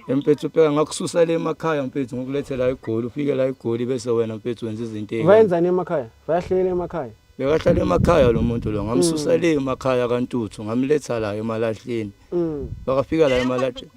Mfethu phela ngakususa le emakhaya mfethu ngokulethe la igoli ufike la igoli bese wena mfethu wenza izinto ezinhle. Wayenzani emakhaya? Wayahlela emakhaya. Bekahlala emakhaya lo muntu lo ngamsusa mm. le emakhaya kaNtuthu ngamletha la emalahleni. Mm. Bakafika la emalahleni.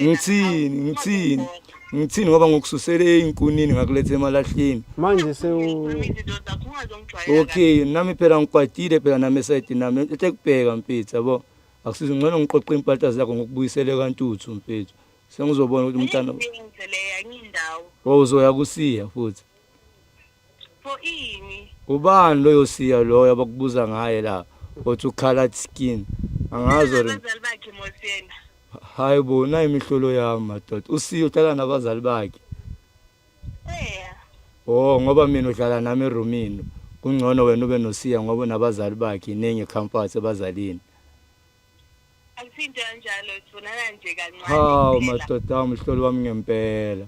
Ngithini ngithini ngithini ngoba ngokususele inkunini ngakulethe emalahleni. Manje sewu Okay nami phela ngikwatile phela nami side nami ethe kubheka mfethu yabo. Akusizi ngcono ngiqoqe impahla zakho ngokubuyisele kantuthu mfethu. Sengizobona ukuthi umntana ngizele yanye indawo. Wawuzoya kusiya futhi. Pho ini? Ubani loyo siya loyo abakubuza ngaye la? Othi ukhala skin. Angazo ri. Abazali bakhe mosena. Hayi bo, nayi imihlolo yami madoda. Usiyo uhlala nabazali bakhe. Oh ngoba mina udlala nami eroomini. Kungcono wena ube nosiya ngoba nabazali bakhe iningi comfort ebazalini. Akusinto kanjalo sibonana nje kancane. Hawu madoda umhloli wami ngempela.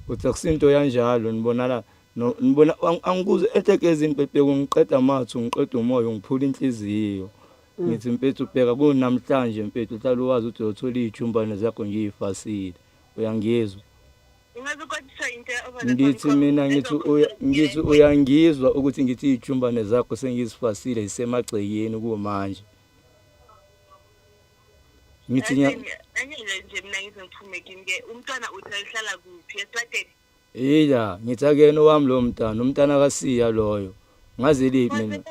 Uthi akusinto yanjalo nibonana no nibona angikuze etegeza impephe ungiqeda amathu ngiqeda umoya ungiphula inhliziyo. Mm. Ngithi mfethu bheka kunamhlanje mfethu hlala uwazi ukuthi uyothola ijumbane zakho ngiyifasile. Uyangizwa? Ngithi mina ngithi uya ngithi uyangizwa ukuthi ngithi ijumbane zakho sengizifasile isemagcekeni kumanje. Ngithi nya Angeke nje mina ngizophume kimi ke umntwana uthi ayihlala kuphi esitrateni. Ila ngithi akuyena owami lo mntana umntana kasiya loyo. Ngaze liphi mina.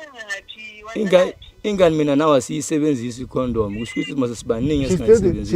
Ingane ingane mina nawe asiyisebenzisi icondom kusho ukuthi mase sibaningi esingayisebenzisi.